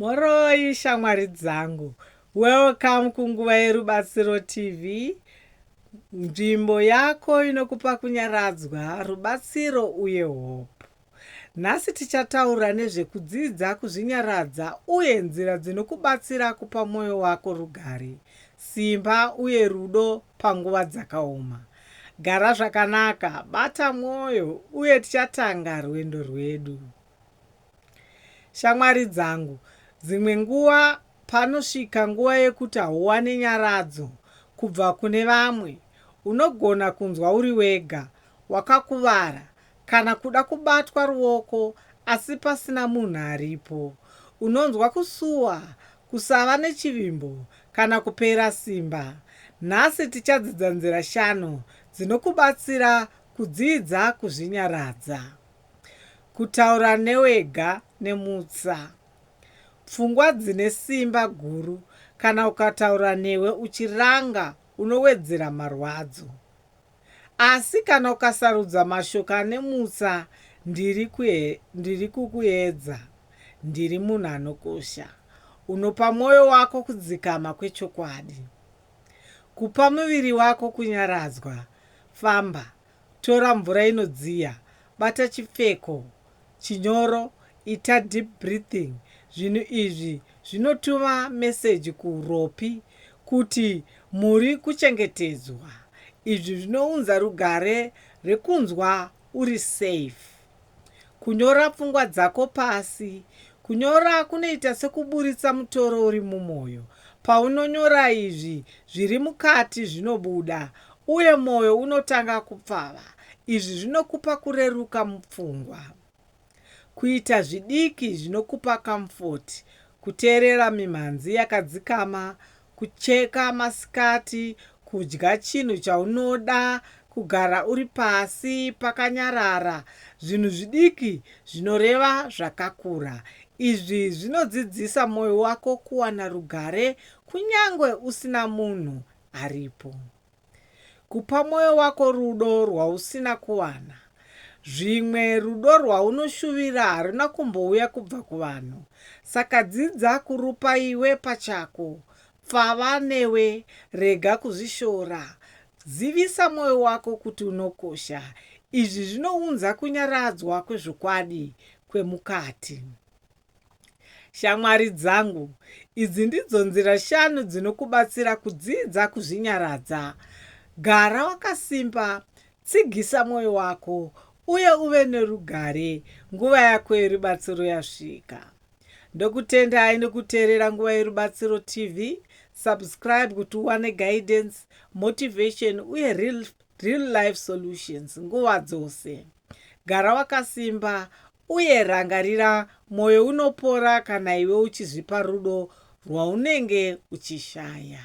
Mhoroi shamwari dzangu. Welcome kunguva yerubatsiro TV. Nzvimbo yako inokupa kunyaradzwa, rubatsiro uye hope. Nhasi tichataura nezvekudzidza kuzvinyaradza uye nzira dzinokubatsira kupa mwoyo wako rugare, simba uye rudo panguva dzakaoma. Gara zvakanaka, bata mwoyo uye tichatanga rwendo rwedu. Shamwari dzangu, dzimwe nguva panosvika nguva yekuti hauwane nyaradzo kubva kune vamwe. Unogona kunzwa uri wega, wakakuvara, kana kuda kubatwa ruoko asi pasina munhu aripo. Unonzwa kusuwa, kusava nechivimbo, kana kupera simba. Nhasi tichadzidza nzira shanu dzinokubatsira kudzidza kuzvinyaradza. Kutaura newega nemutsa. Pfungwa dzine simba guru kana ukataura newe uchiranga unowedzera marwadzo. Asi kana ukasarudza mashoko ane mutsa ndiri kuhe, ndiri kukuedza, ndiri munhu anokosha, unopa mwoyo wako kudzikama kwechokwadi. Kupa muviri wako kunyaradzwa, famba, Tora mvura inodziya, bata chipfeko chinyoro, ita deep breathing, zvinhu izvi zvinotuma meseji kuuropi kuti muri kuchengetedzwa. Izvi zvinounza rugare rwekunzwa uri safe. Kunyora pfungwa dzako pasi. Kunyora kunoita sekuburitsa mutoro uri mumwoyo. Paunonyora izvi, zviri mukati zvinobuda, uye mwoyo unotanga kupfava. Izvi zvinokupa kureruka mupfungwa. Kuita zvidiki zvinokupa kamufoti, kuteerera mimhanzi yakadzikama, Kucheka masikati, kudya chinhu chaunoda, kugara uri pasi pakanyarara, zvinhu zvidiki zvinoreva zvakakura. Izvi zvinodzidzisa mwoyo wako kuwana rugare kunyange usina munhu aripo. Kupa mwoyo wako rudo rwausina kuwana. Zvimwe rudo rwaunoshuvira haruna kumbouya kubva kuvanhu. Saka dzidza kurupa iwe pachako. Pfava newe. Rega kuzvishora. Zivisa mwoyo wako kuti unokosha. Izvi zvinounza kunyaradzwa kwezvokwadi kwemukati. Shamwari dzangu, idzi ndidzo nzira shanu dzinokubatsira kudzidza kuzvinyaradza. Gara wakasimba, tsigisa mwoyo wako, uye uve nerugare nguva yako yerubatsiro yasvika. Ndokutendai nekuteerera Nguva Yerubatsiro TV. Subscribe kuti uwane guidance, motivation uye real, real life solutions nguva dzose. Gara wakasimba Uye rangarira mwoyo unopora kana iwe uchizvipa rudo rwaunenge uchishaya.